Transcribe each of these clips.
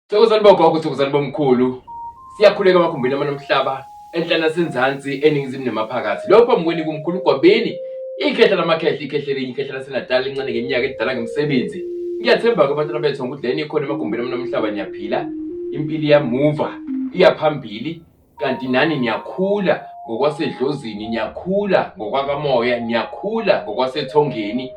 Thokozani bogogo, thokozani bomkhulu. Siyakhuleka emakhumbini amane omhlaba, enhla nasenzansi, eningizimu nemaphakathi. Lokho mweni kumkhulu Gwabini, ikhehla lamakhehla, ikhehla elinye, ikhehla laseNatali elincane ngeminyaka elidala ngemisebenzi. Ngiyathemba-ke abantwana bethu ngokudleni ikhona emagumbini amane omhlaba niyaphila, impilo iyamuva, iya phambili. kanti nani niyakhula ngokwasedlozini niyakhula ngokwakamoya niyakhula ngokwasethongeni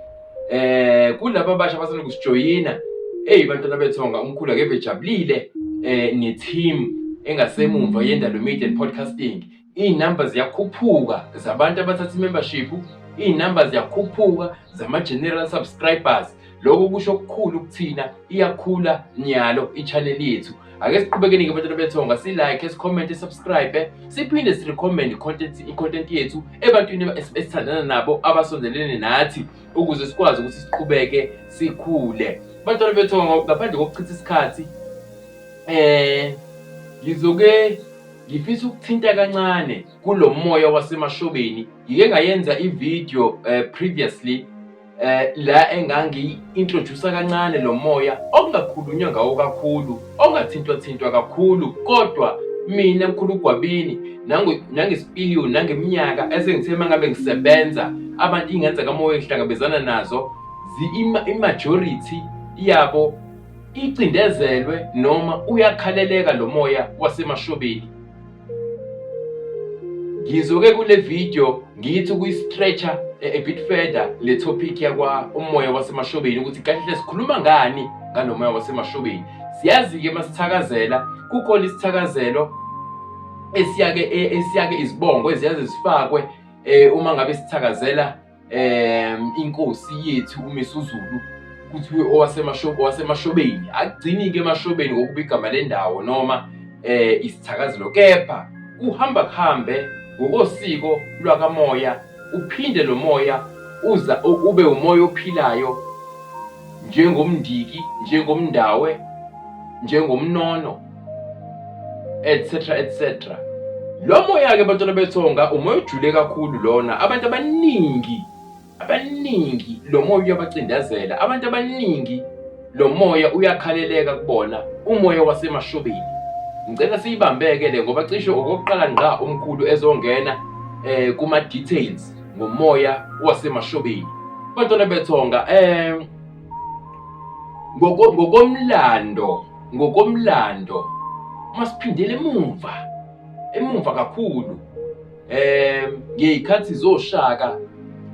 eh kulabo abasha abasanda kusijoyina eyi bantwana bethonga umkhulu akeve ejabulile eh ne-team engasemumva yendalo media and podcasting iy'namba ziyakhuphuka zabantu abathatha i-membership iy'namba ziyakhuphuka zama-general subscribers Lokho kusho okukhulu kuthina iyakhula nyalo i-channel yethu. Ake siqhubekeni ke bantwana bethonga si like, si comment, subscribe, siphinde si recommend content i-content yethu ebantwini esithandana nabo abasondelene nathi ukuze sikwazi ukuthi siqhubeke sikhule. Bantwana bethonga ngaphandle kokuchitha isikhathi eh ngizoke ngifisa ukuthinta kancane kulo moya wasemashobeni ngike ngayenza i-video uh, previously eh la engangiyi-introducer kancane lo moya okungakhulunywa ngawo kakhulu ongathintwa-thintwa kakhulu kodwa mina mkhulu ugwabini nangesipiliyoni nangeminyaka esengithe uma ngabe ngisebenza abantu ingenza kamoya engihlangabezana nazo imajority yabo icindezelwe noma uyakhaleleka lo moya wasemashobeni Ngizoke kule video ngithi kuyi-stretcher eh, a bit further le topic yakwa umoya wasemashobeni ukuthi kahle sikhuluma ngani ngalo moya wasemashobeni siyazi-ke masithakazela kukhona isithakazelo esiyake eh, esiyake izibongo eziyaze zifakwe um uma ngabe sithakazela um inkosi yethu umisuzulu kuthiwe owasemashobeni akugcini-ke emashobeni ngokuba igama lendawo noma um isithakazelo kepha kuhamba kuhambe ngokosiko lwakamoya uphinde lo moya uza ube umoya ophilayo njengomndiki njengomndawe njengomnono etc etc lo moya-ke bantwana bethonga umoya ojule kakhulu lona abantu abaningi abaningi lo moya uyabacindezela abantu abaningi lo moya uyakhaleleka kubona umoya wasemashobeni ngicela siyibambeke le ngoba cishe okokuqala ngqa umkhulu ezongena eh kuma details ngomoya wasemashobeni bantwana bethonga eh ngokomlando Ngokomlando uma siphindela emumva emumva kakhulu eh ngeyikhathi zoshaka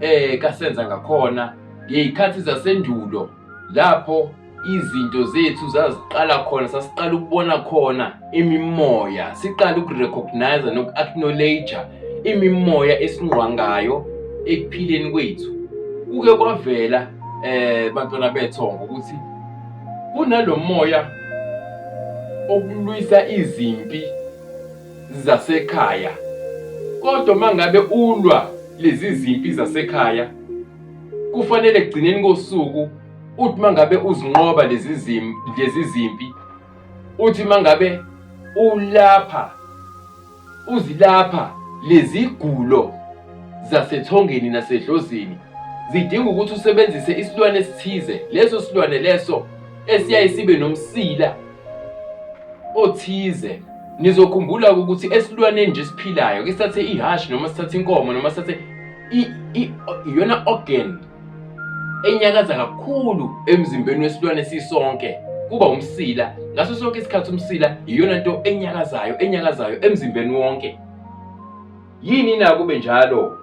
eh kasenza ngakhona ngeyikhathi zasendulo lapho izinto zethu zaziqala khona sasiqala ukubona khona imimoya siqala ukurecognize noku-acknowledge imimoya esingqwangayo ekuphileni kwethu kuke kwavela eh bantwana bethongo ukuthi Kunalomoya okulwisa izimpi zasekhaya kodwa mangabe ulwa lezi zimpi zasekhaya kufanele ekugcineni kosuku uthi mangabe uzinqoba lezi zimpi lezi zimpi uthi mangabe ulapha Uzilapha lezigulo zasethongeni nasedlozini zidinga ukuthi usebenzise isilwane esithize leso silwane leso esiyaye sibe nomsila othize nizokhumbula ukuthi esilwaneni nje esiphilayo ke sithathe ihhashi noma sithathe inkomo noma sithathe iyona organ enyakaza kakhulu emzimbeni wesilwane sisonke kuba umsila ngaso sonke isikhathi umsila iyona nto enyakazayo enyakazayo emzimbeni wonke yini na kube njalo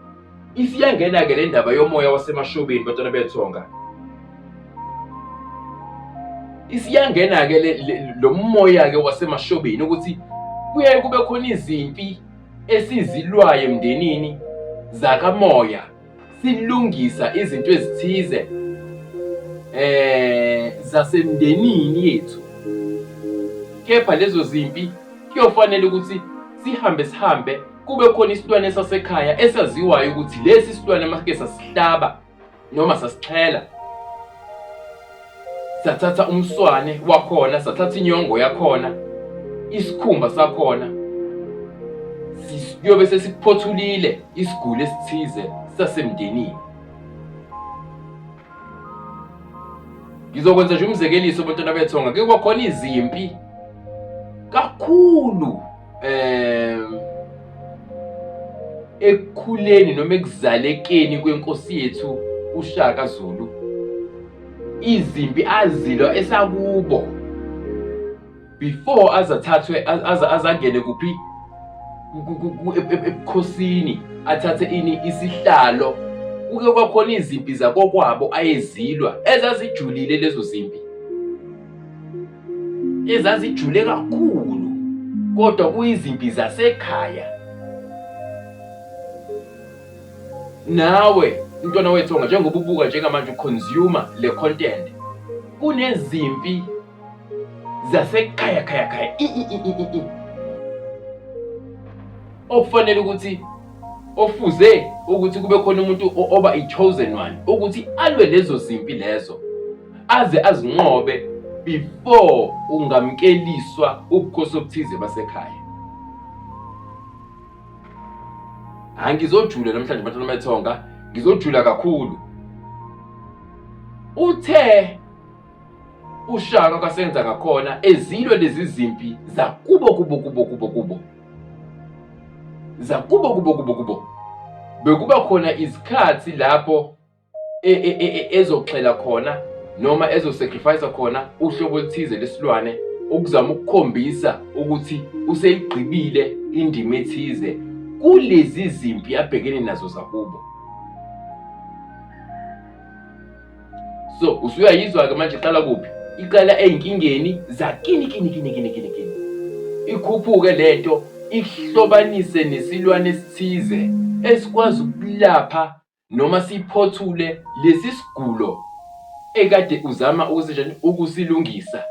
isiyangena-ke le ndaba yomoya wasemashobeni batwana bethonga isiyangena-ke lo moya-ke wasemashobeni ukuthi kuyaye kube khona izimpi esizilwayo emndenini zakamoya silungisa izinto ezithize eh zasemndenini yethu kepha lezo zimpi kuyofanele ukuthi sihambe sihambe kube khona isilwane sasekhaya esaziwayo ukuthi lesi silwane masike sasihlaba noma sasixhela sathatha umswane wakhona sathatha inyongo yakhona isikhumba sakhona siyobe sesikuphothulile isiguli esithize sasemndenini ngizokwenza nje umzekeliso abantwana bethu ngake kwakhona izimpi kakhulu eh ekukhuleni noma ekuzalekeni kwenkosi yethu uShaka Zulu izimpi azilwa esakubo before azathathwe azangene kuphi ebukhosini athathe ini isihlalo kuke kwakhona izimpi zakokwabo ayezilwa ezazijulile lezo zimpi ezazijule kakhulu kodwa kuyizimpi zasekhaya Nawe mntwana wethonga njengoba ubuka njengamanje uconsumer le content kunezimpi zasekhaya khaya khaya i i i i i i okufanele ukuthi ofuze ukuthi kube khona umuntu o- oba i-chosen one ukuthi alwe lezo zimpi lezo aze azinqobe before ungamkeliswa ubukhosi obuthize basekhaya hayi ngizojula namhlanje bantwana bethonga ngizojula kakhulu uthe ushaka kwasenza ngakhona ezilwe lezi zimpi zakubo kubo kubo kubo kubo zakubo kubo kubo kubo bekuba khona izikhathi lapho e, e, e, ezoxhela khona noma ezosacrifice khona uhlobo oluthize lesilwane ukuzama ukukhombisa ukuthi useyigqibile indima ethize kulezi zimpi abhekene nazo zakubo so usuyayizwa-ke manje iqala kuphi iqala ey'nkingeni zakini kini kini kini kini kini ikhuphuke le nto ihlobanise nesilwane esithize esikwazi ukulapha noma siphothule lesi sigulo ekade uzama ukusenjani ukusilungisa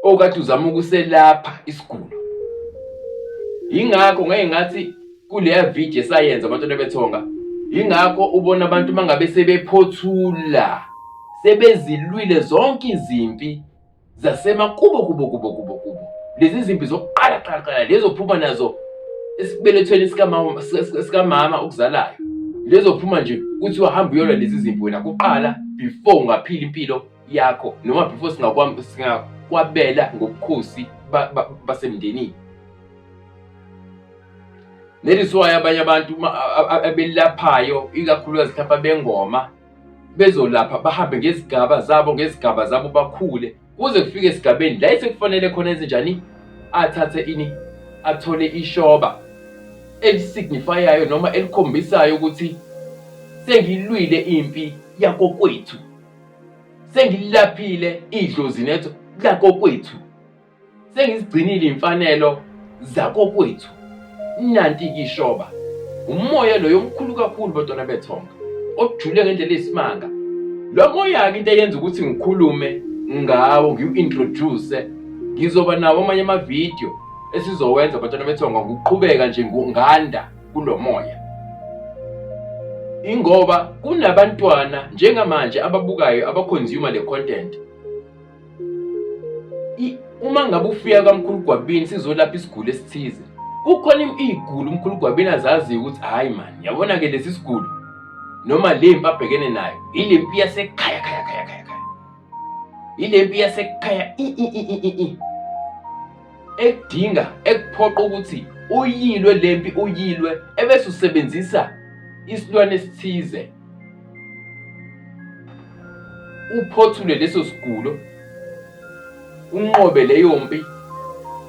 okade uzama ukuselapha isigulo yingakho ngeke ngathi kuleya video esayenza abantwana bethonga yingakho ubona abantu mangabe sebephothula sebezilwile zonke izimpi zasemakubo kubo kubo kubo kubo lezi zimpi zokuqala qala qala lezo phuma nazo esibelethweni sikamama sikamama okuzalayo lezo phuma nje kuthi wahamba uyolwa lezi zimpi wena kuqala before ungaphila impilo yakho noma before singakwami singakwabela ngobukhosi basemndenini Leli siwayo abanye abantu abelaphayo ikakhulukazi mhlawumbe abengoma bezolapha bahambe ngezigaba zabo ngezigaba zabo bakhule kuze kufike esigabeni la esekufanele khona ezinjani athathe ini athole ishoba elisignifayayo noma elikhombisayo ukuthi sengilwile impi yakokwethu sengilaphile idlozi netho lakokwethu sengizigcinile imfanelo zakokwethu nanti kishoba umoya loyo omkhulu kakhulu bantwana bethonga ojule ngendlela eyisimanga lo moya-ke into eyenza ukuthi ngikhulume ngawo ngiwu-introduce ngizoba nawo amanye amavidiyo esizowenza bantwana bethonga ngokuqhubeka nje nganda kulo moya ingoba kunabantwana njengamanje ababukayo abaconsumer le content Uma ngabe ufika kamkhulu Gwabini sizolapha isiguli esithize. Kukhona iy'guli umkhulu Gwabini azaziyo ukuthi hhayi mani yabona-ke lesi siguli noma le mpi abhekene nayo ile mpi yasekhaya khaya khaya khaya khaya ile mpi yasekhaya ekudinga ekuphoqa ukuthi uyilwe le mpi uyilwe ebese usebenzisa isilwane esithize uphothule leso sigulo unqobe leyo mpi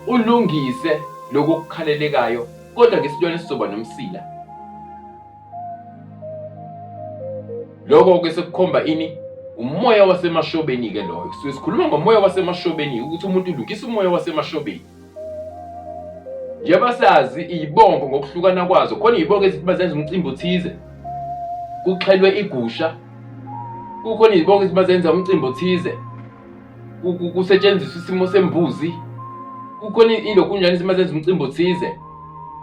ulungise lokho okukhalelekayo kodwa ngesilwane sizoba nomsila lokho ke sekukhomba ini umoya wasemashobeni ke loyo sisikhuluma ngomoya wasemashobeni ukuthi umuntu ulungisa umoya wasemashobeni njengoba sazi iyibongo ngokuhlukana kwazo khona iyibongo ezithi bazenza umcimbi othize kuxhelwe igusha kukhona izibongo ezithi bazenza umcimbi othize kusetshenziswa isimo sembuzi kukhona ilokunjani izinto mazenza umcimbi othize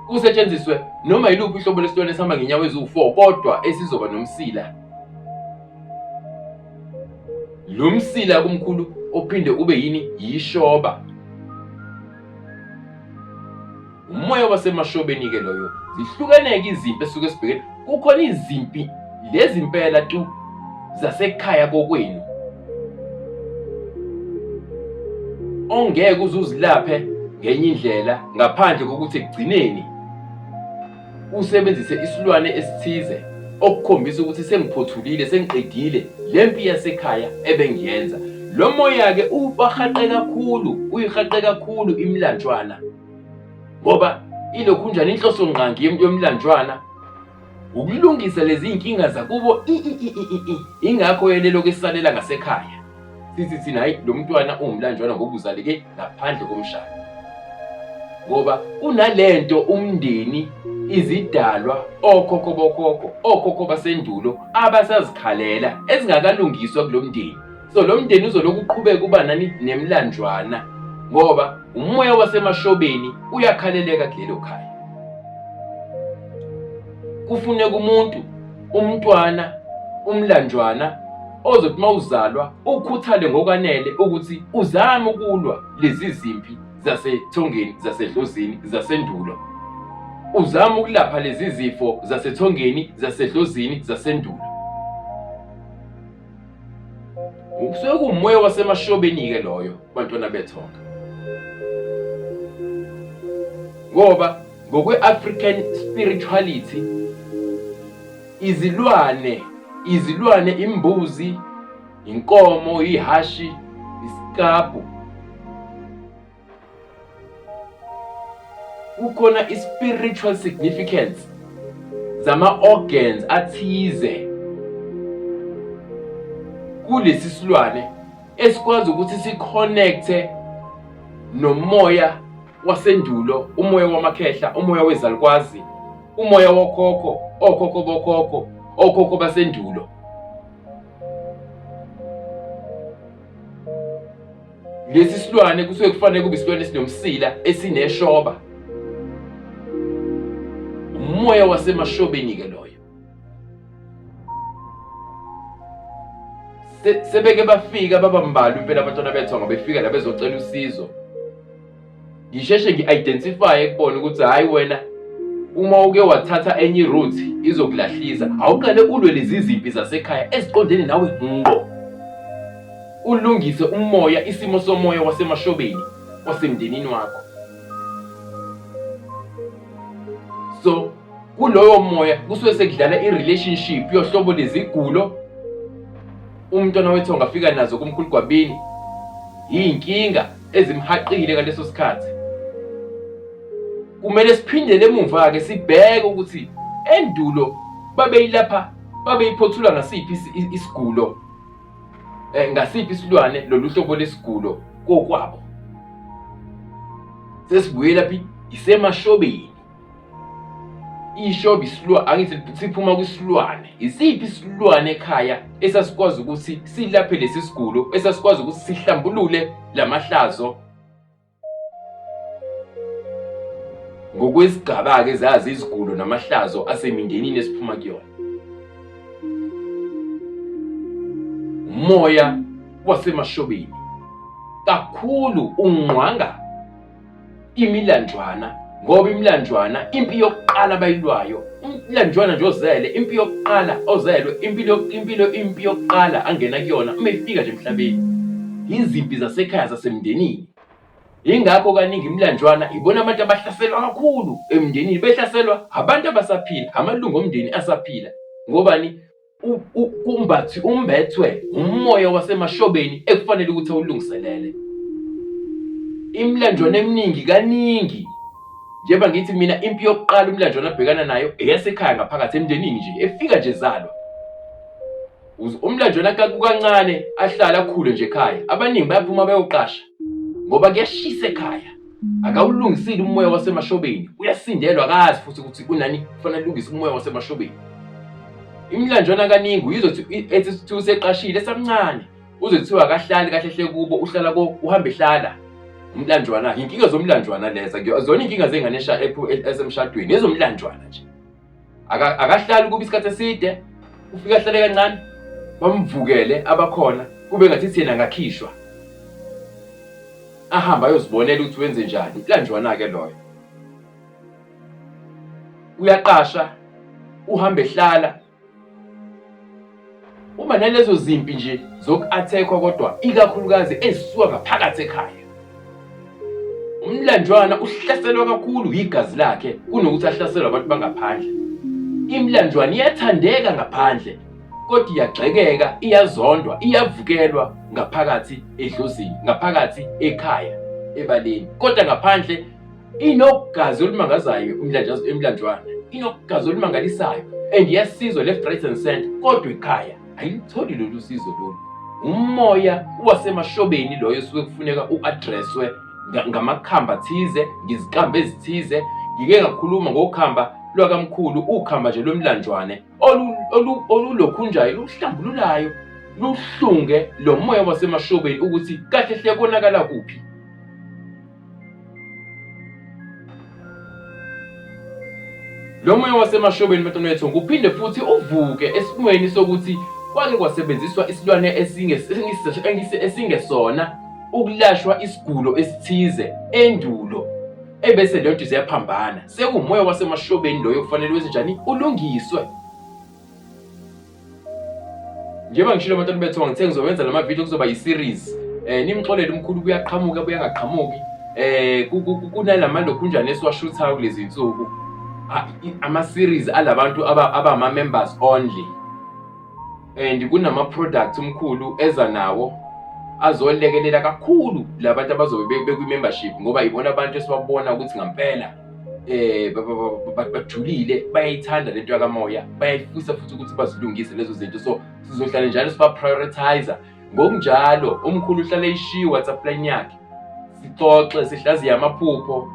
kusetshenziswe noma yiluphi uhlobo lwesilwane esihamba ngenyawo eziwu-four kodwa esizoba nomsila Lo msila kumkhulu ophinde ube yini yishoba. Umoya wasemashobeni ke loyo. Zihlukeneke izimpi esuke sibhekene. Kukhona izimpi lezi impela tu zasekhaya kokwenu. Ongeke uzuzilaphe ngenye indlela ngaphandle kokuthi ekugcineni usebenzise isilwane esithize okukhombisa ukuthi sengiphothulile sengiqedile le mpi yasekhaya ebengiyenza lo moya-ke ubahaqe kakhulu uyihaqe kakhulu imilanjwana ngoba ilokhunjani inhloso ngqangi yomlanjwana ukulungisa lezi zinkinga zakubo ingakho yelelo kesalela ngasekhaya Sisi thina hayi lo mntwana ungumlanjwana ngoba uzaleke ngaphandle komshado ngoba unalento umndeni izidalwa okhokho bokhokho okhokho basendulo abasazikhalela ezingakalungiswa kulo mndeni so lo mndeni uzolokhu uqhubeka uba nani nemlanjwana ngoba umoya wasemashobeni uyakhaleleka kulelo khaya kufuneka umuntu umntwana umlanjwana ozothi uma uzalwa ukhuthale ngokwanele ukuthi uzame ukulwa lezi zimpi zasethongeni zasedlozini zasendulo uzama ukulapha lezi zifo zasethongeni zasedlozini zasendulo Kusuke kuwumoya wasemashobeni-ke loyo bantwana bethonga. Ngoba ngokwe-African spirituality izilwane izilwane imbuzi, inkomo, ihashi, isikabhu kukhona i-spiritual significance zama-organs athize kulesi silwane esikwazi ukuthi sikhonekthe nomoya wasendulo umoya wamakhehla umoya wezalukwazi umoya wokhokho okhokho bokhokho okhokho basendulo Lesi silwane kusuke kufanele kube isilwane esinomsila esineshoba. Umoya wasemashobeni-ke loyo. sebeke bafika babambalwa impela abantwana bethu angabefika la bezocela usizo ngisheshe ngi-identifye kubona ukuthi hhayi wena uma uke wathatha enye iroute izokulahlisa awuqale ulwe lezi zimpi zasekhaya eziqondene nawe ngqo ulungise umoya isimo somoya wasemashobeni wasemndenini wakho so kuloyo moya kusuke sekudlala i-relationship yohlobo lezigulo umntwana wethu angafika nazo kumkhulu gwabini yinkinga ezimhaqile ngaleso sikhathi kumele siphindele emuva-ke sibheke ukuthi endulo babeyilapha babeyiphothula ngasiphi isigulo um ngasiphi isilwane lolu hlobo lesigulo kokwabo sesibuyela phi isemashobeni ishoba isilwane angithi siphuma kwisilwane isiphi isilwane ekhaya esasikwazi ukuthi silaphe lesi sigulo esasikwazi ukuthi sihlambulule lamahlazo ngokwesigaba-ke zazi izigulo namahlazo asemindenini esiphuma kuyona umoya wasemashobeni kakhulu ungqwanga imilanjwana ngoba imilanjwana impi yokuqala bayilwayo umlanjwana nje ozele impi yokuqala ozelwe impilo impilo impi yokuqala angena kuyona uma efika nje emhlabeni yizimpi zasekhaya zasemndenini yingakho kaningi imilanjwana ibona abantu abahlaselwa kakhulu emndenini behlaselwa abantu abasaphila amalungu omndeni asaphila ngobani Umbathi umbethwe umoya wasemashobeni ekufanele ukuthi awulungiselele. Imilanjwana eminingi kaningi njengoba ngithi mina impi yokuqala umlanjwana abhekana nayo eyasekhaya ngaphakathi emndenini nje efika nje zalwa umlanjwana kakukancane ahlale akhule nje ekhaya abaningi bayaphuma bayoqasha ngoba kuyashisa ekhaya akawulungisile umoya wasemashobeni uyasindelwa akazi futhi ukuthi kunani kufanele alungise umoya wasemashobeni imilanjwana kaningi uyizothi ethi kuthiwa useqashile esamncane uze kuthiwa akahlali kahle hle kubo uhlala ko uhambe ehlala umlanjwana yinkinga zomlanjwana leza zona inkinga zengane esha ephu- e- esemshadweni ezomlanjwana nje Aka- akahlali kuba isikhathi eside ufike ahlale kancane bamvukele abakhona kube ngathi thina ngakhishwa ahamba ayozibonela ukuthi wenze njani ilanjwana-ke loyo uyaqasha uhamba ehlala Uma nalezo zimpi nje zoku-athekwa kodwa ikakhulukazi ezisuka ngaphakathi ekhaya. Umlanjwana uhlaselwa kakhulu yigazi lakhe kunokuthi ahlaselwe abantu bangaphandle. Imilanjwana iyathandeka ngaphandle kodwa iyagxekeka, iyazondwa, iyavukelwa ngaphakathi edlozini, ngaphakathi ekhaya, ebaleni. Kodwa ngaphandle inogazi olumangazayo umlanjazo emlanjwana inogazi olumangalisayo and yasizwa left right and center kodwa ikhaya ayilitholi lolu sizo lolu umoya wasemashobeni loyo osuke kufuneka u-adreswe ngamakhamba thize ngiziqambe ezithize ngike ngakhuluma ngokhamba lwakamkhulu ukhamba nje lomlanjwane olulokhunjayo luhlambululayo luhlunge lo moya wasemashobeni ukuthi kahle hle konakala kuphi Lo moya wasemashobeni mfethu kuphinde futhi uvuke esimweni sokuthi kwake kwasebenziswa isilwane esingesona ukulashwa isigulo esithize endulo ebese lento ziyaphambana sekumoya wasemashobeni loyo kufanele wenze njani ulungiswe njengoba ngishilo abantu bethiwa ngithe ngizowenza lama video kuzoba yi-series eh nimxolele umkhulu kuyaqhamuka kuyangaqhamuki eh kunalama lokhunjana esiwashuthayo kulezi nsuku ama-series alabantu abama-members only and kunama-products umkhulu eza nawo azolekelela kakhulu labantu abazobe bekwi-membership ngoba yibona abantu esibabona ukuthi ngampela eh bajulile bayayithanda lento yakamoya bayayifisa futhi ukuthi bazilungise lezo zinto so sizohlale njalo siba prioritizer ngokunjalo umkhulu uhlale ishiye WhatsApp line yakhe sixoxe sihlaziye amaphupho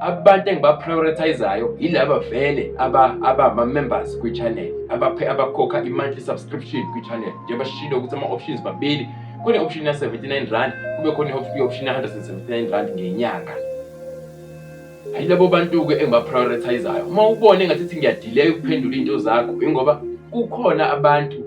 abantu engiba prioritizayo yilaba vele aba aba ma members kwi channel abaphe abakhokha i monthly subscription kwi channel njengoba shilo ukuthi ama options babili kune option ya 79 rand kube khona i option ya 179 rand ngenyanga Hayi labo bantu-ke engibaprioritizayo uma ubona engathi ithi ngiyadileya ukuphendula iy'nto zakho ingoba kukhona abantu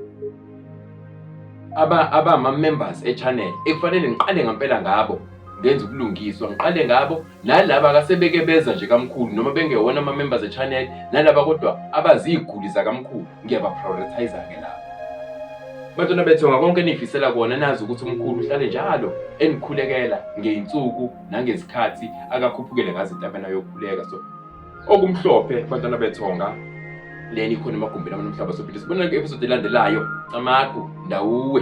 abama-members e-channel ekufanele ngiqale ngampela ngabo ngenza ubulungiswa ngiqale ngabo nalaba kasebeke beza nje kamkhulu noma bengewona ama-members e-channel nalaba kodwa abaziy'guli zakamkhulu ngiyabaprioritiza-ke labo bantwana bethu ngakonke eniyifisela kona nazi ukuthi umkhulu uhlale njalo enikhulekela ngey'nsuku nangezikhathi akakhuphukele ngazo entabeni ayokhuleka so okumhlophe bantwana bethonga leni ikhona emagumbini abantu mhlaba sophinde sibona episode elandelayo camagu ndawuwe